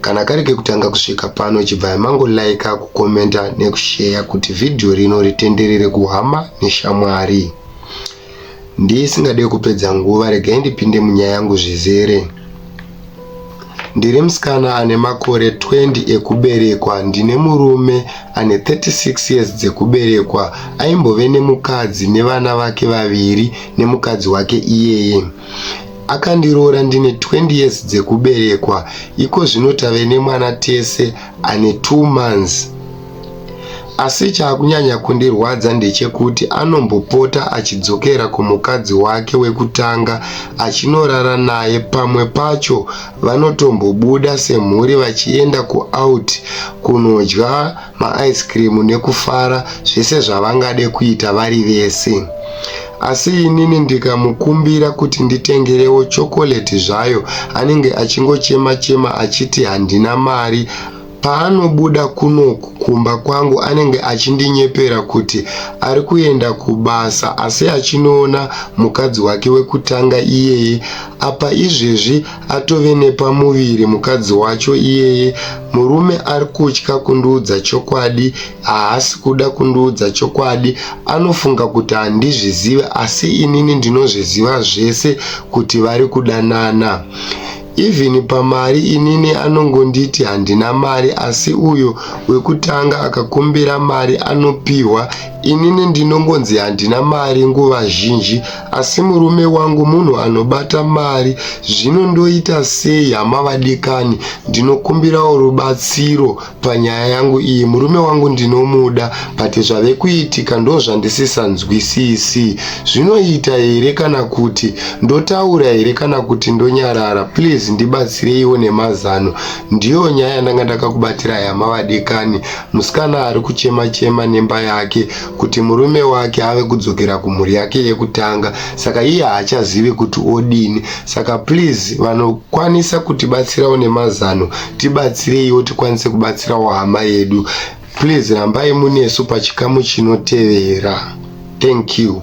kana kari kekutanga kusvika pano chibvai mango like kukomenta nekusheya kuti vhidhiyo rino ritenderere kuhama neshamwari ndisingade kupedza nguva regai ndipinde munyaya yangu zvizere ndiri musikana ane makore 20 ekuberekwa ndine murume ane 36 years dzekuberekwa aimbove nemukadzi nevana vake vaviri nemukadzi wake iyeye Akandiroora ndine 20 years dzekuberekwa iko zvino tave nemwana tese ane 2 months. Asi chaakunyanya kundirwadza ndechekuti anombopota achidzokera kumukadzi wake wekutanga achinorara naye pamwe pacho vanotombobuda semhuri vachienda kuout kunodya maice cream nekufara zvese zvavangade kuita vari vese asi inini ndikamukumbira kuti nditengerewo chokoleti zvayo anenge achingochema chema achiti handina mari paanobuda kunoku kumba kwangu anenge achindinyepera kuti ari kuenda kubasa asi achinoona mukadzi wake wekutanga iyeye apa izvezvi atove nepamuviri mukadzi wacho iyeye murume ari kutya kundiudza chokwadi haasi kuda kundiudza chokwadi anofunga kuti handizvizive asi inini ndinozviziva zvese kuti vari kudanana even pamari inini anongonditi handina mari asi uyo wekutanga akakumbira mari anopihwa inini ndinongonzi handina mari nguva zhinji Asi murume wangu munhu anobata mari zvino ndoita sei hama vadikani ndinokumbirawo rubatsiro panyaya yangu iyi murume wangu ndinomuda but zvave kuitika ndozvandisisanzwisisi zvinoita here kana kuti ndotaura here kana kuti ndonyarara please ndibatsireiwo nemazano ndiyo nyaya yandanga ndakakubatira hama vadikani musikana ari kuchema chema nemba yake kuti murume wake ave kudzokera kumhuri yake yekutanga saka iye haachazivi kuti odini saka please vanokwanisa kutibatsirawo nemazano tibatsireiwo tikwanise kubatsirawo hama yedu please rambai munesu pachikamu chinotevera thank you